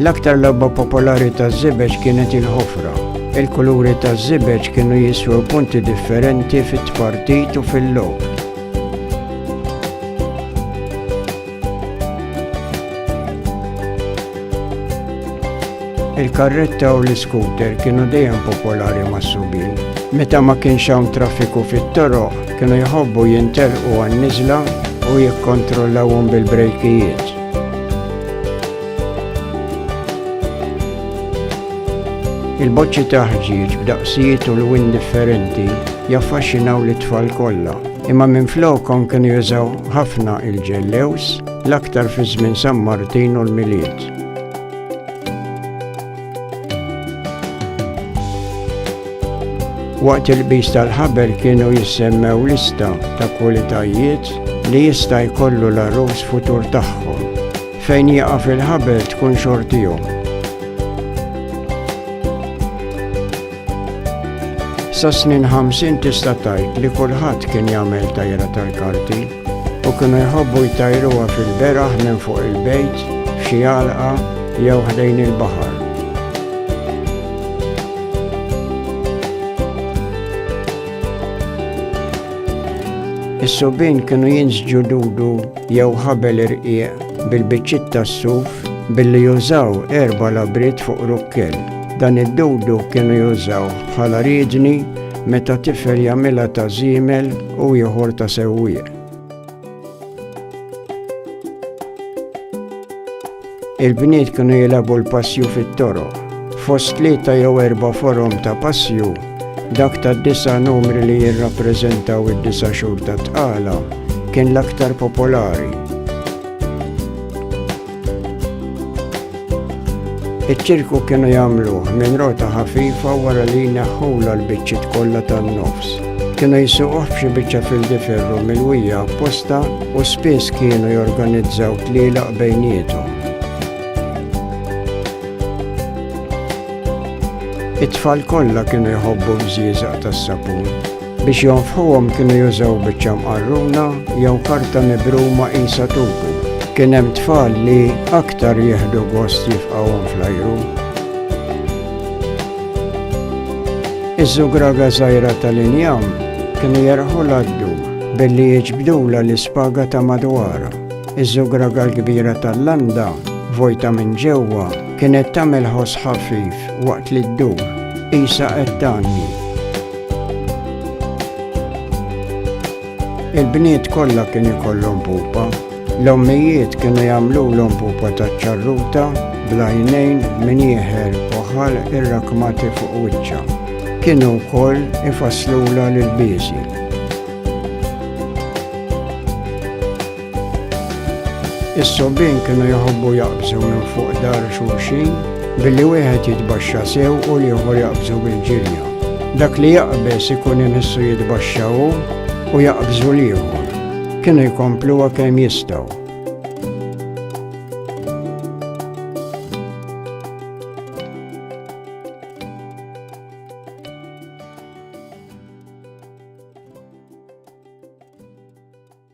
L-aktar logħba popolari taż-żibeġ kienet il-ħofra. Il-kuluri taż-żibeġ kienu jiswew punti differenti fit-tpartit u fil-logħob. il-karretta u l-iskuter kienu dejjem popolari mas-subin. Meta ma kienx hawn traffiku fit-toroq, kienu jħobbu jintelqu għan-niżla u jikkontrollawhom bil-brejkijiet. Il-boċċi ta' ħġieġ b'daqsijiet u lwin differenti jaffaxxinaw lit tfal kollha, imma minflokhom kienu jużaw ħafna il-ġellews l-aktar fi żmien San Martin u l-Milied. Waqt il-qbis tal-ħabel kienu jissemmew lista ta' kwalitajiet li jista' jkollu l-arus futur tagħhom. Fejn jieqaf il-ħabel tkun xortihom. Sa snin 50 tista' tajt li kulħadd kien jagħmel tajra tal-karti u kienu jħobbu jtajruha fil-beraħ minn fuq il-bejt, f'xi għalqa jew ħdejn il-baħar. Is-subin kienu jinsġu dudu jew ħabel irqieq bil-biċċiet tas-suf billi jużaw erba labrit fuq rukkel. Dan id-dudu kienu jużaw bħala riedni meta tifel jagħmilha ta' żiemel u ieħor ta' sewwieq. Il-bniet kienu jilabu l-passju fit-toro. Fost tlieta jew erba forom ta' passju, dak ta' disa numri li jirrappreżentaw id-disa xhur ta' tqala kien l-aktar popolari. Iċ-ċirku kienu jagħmluh minn rota ħafifa wara li jneħħula l-biċċiet kollha tan-nofs. Kienu jisuqoh f'xi biċċa fil-diferru mill-wija apposta u spiss kienu jorganizzaw tlielaq bejniethom. It-tfal kollha kienu jħobbu bżieżaq tas-sapun. Biex jonfħuhom kienu jużaw biċċa mqarruna jew karta mibruma qisha tuku. Kien hemm tfal li aktar jieħdu gost jifqawhom fl-ajru Iż-żugraga żgħira tal-injam kienu jerħu l-għaddu billi jiġbdula l-ispaga ta' madwar. Iż-żugraga l-kbira tal-landa, vojta minn ġewwa, kienet tagħmel ħoss ħafif waqt li ddur, qisha qed tgħanni. Il-bniet kollha kien ikollhom pupa. L-ommijiet kienu jagħmlulhom pupa ta' ċarruta blajnejn minn jieħer poħal irrakmati fuq wiċċa. Kienu wkoll ifasslula l-biżi. Is-sobbien kienu jħobbu jaqbżu minn fuq dar xulxin billi wieħed jitbaxxa sew u l-ieħor jaqbżu bil-ġirja. Dak li jaqbeż ikun imissu jitbaxxa hu u jaqbżu l-ieħor. Kienu jkompluha kemm jistgħu.